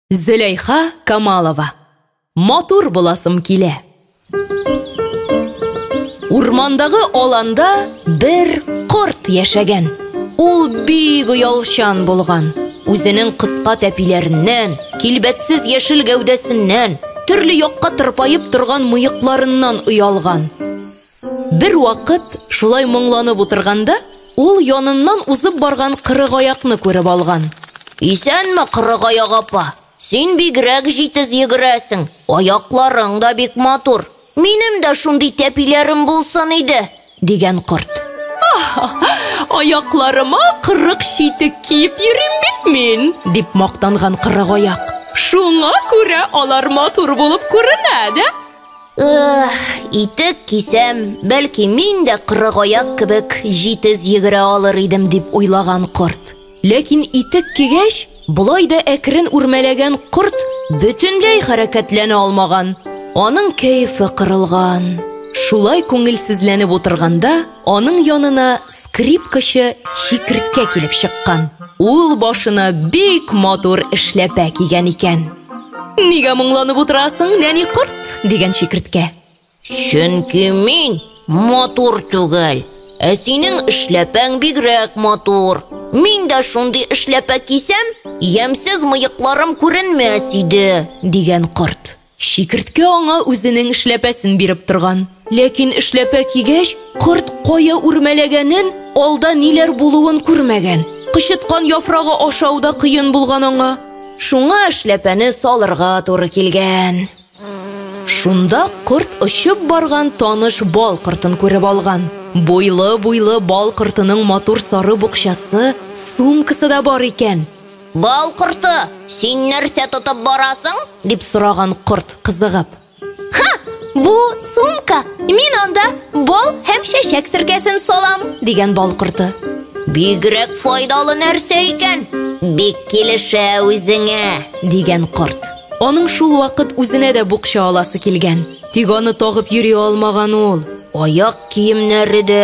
Зөләйха Камалова. Матур буласым килә. Урмандагы аланда бер корт яшәгән. Ул бик оялчан булган. Үзенең кыска тәпиләреннән, килбәтсез яшел гәүдәсеннән, төрле якка тырпаеп торган мыекларыннан оялган. Бер вакыт шулай моңланып утырганда, Ул яныннан узып барган Кырыгаякны күреп алган. Исәнме, Кырыгаяк апа! Син бигрәк җитез йөгерәсең, аякларың да бик матур. Минем дә шундый тәпиләрем булсын иде! дигән корт. Аякларыма кырык читек киеп йөрим бит мин! дип мактанган Кырыгаяк. Шуңа күрә алар матур булып күренә дә! Итек кисәм, бәлки мин дә кырыгаяк кебек җитез йөгерә алыр идем дип уйлаган корт. Ләкин итек кигәч, болай да әкрен үрмәләгән корт бөтенләй хәрәкәтләнә алмаган. Аның кәефе кырылган. Шулай күңелсезләнеп утырганда, аның янына скрипкачы Чикерткә килеп чыккан. Ул башына бик матур эшләпә кигән икән. Нигә моңланып утырасың, нәни корт? дигән чикерткә. Чөнки мин матур түгел. Ә синең эшләпәң бигрәк матур. Мин дә шундый эшләпә кисәм, ямьсез мыекларым күренмәс иде, дигән корт. Чикерткә аңа үзенең эшләпәсен биреп торган. Ләкин эшләпә кигәч, корт кая үрмәләгәнен, алда ниләр булуын күрмәгән. Кычыткан яфрагы ашау да кыен булган аңа. Шуңа эшләпәне салырга туры килгән. Шунда корт очып барган таныш бал кортын күреп алган. Буйлы-буйлы бал кортының матур сары букчасы, сумкасы да бар икән. Бал корты, син нәрсә тотып барасың? дип сораган корт, кызыгып. Ха! Бу сумка! Мин анда бал һәм чәчәк серкәсен салам, дигән бал корты. Бигрәк файдалы нәрсә икән. Бик килешә үзеңә, дигән корт. Аның шул вакыт үзенә дә букча аласы килгән. Тик аны тагып йөри алмаган ул. Аяк киемнәре дә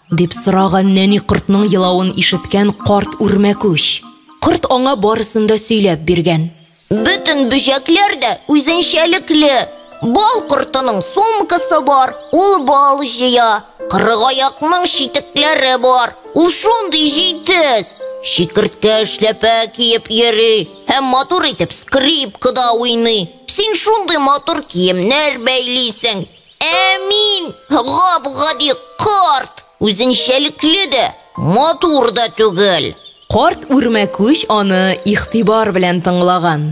Дип сораган нәни кортның елавын ишеткән карт үрмәкүч. Корт аңа барысын да сөйләп биргән. Бөтен бөҗәкләр дә үзенчәлекле. Бал кортының сумкасы бар, ул бал җыя. Кырыгаякның читекләре бар, ул шундый җитез. Чикерткә эшләпә киеп йөри һәм матур итеп скрипкада уйный. Син шундый матур киемнәр бәйлисең. Ә мин гап-гади карт, үзенчәлекле дә, матур да түгел. Карт үрмәкүч аны игътибар белән тыңлаган.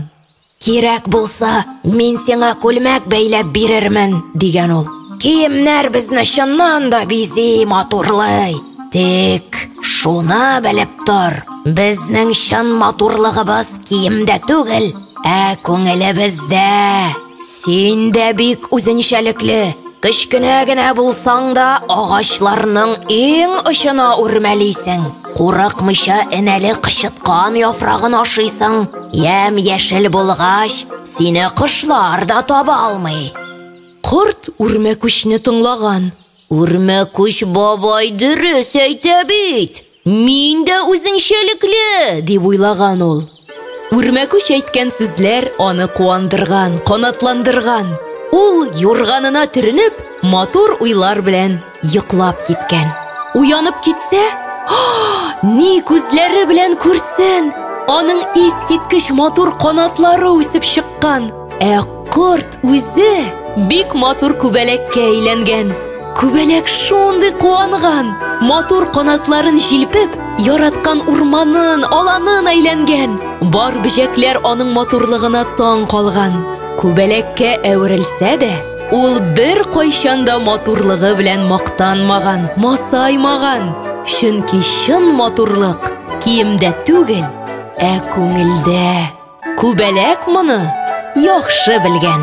Кирәк булса, мин сиңа күлмәк бәйләп бирермен, дигән ул. Киемнәр безне чыннан да бизи, матурлый. Тик шуны белеп тор, безнең чын матурлыгыбыз киемдә түгел, ә күңелебездә. Син дә бик үзенчәлекле. Кечкенә генә булсаң да, агачларның иң очына үрмәлисең. Курыкмыйча энәле кычыткан яфрагын ашыйсың. Ям яшел булгач, сине кошлар да таба алмый. Корт үрмәкүчне тыңлаган. Үрмәкүч бабай дөрес әйтә бит. Мин дә үзенчәлекле, дип уйлаган ул. Үрмәкүч әйткән сүзләр аны куандырган, канатландырган. Ул, юрганына төренеп, матур уйлар белән йоклап киткән. Уянып китсә, ни күзләре белән күрсен! Аның искиткеч матур канатлары үсеп чыккан. Ә корт Үзе бик матур күбәләккә әйләнгән. Күбәләк шундый куанган, матур канатларын җилпеп, яраткан урманын, аланын әйләнгән. Бар бөҗәкләр аның матурлыгына таң калган. Күбәләккә әверелсә дә, ул бер кайчанда матурлыгы белән мактанмаган, масаймаган. Чөнки чын матурлык киемдә түгел, ә күңелдә. Күбәләк моны яхшы белгән.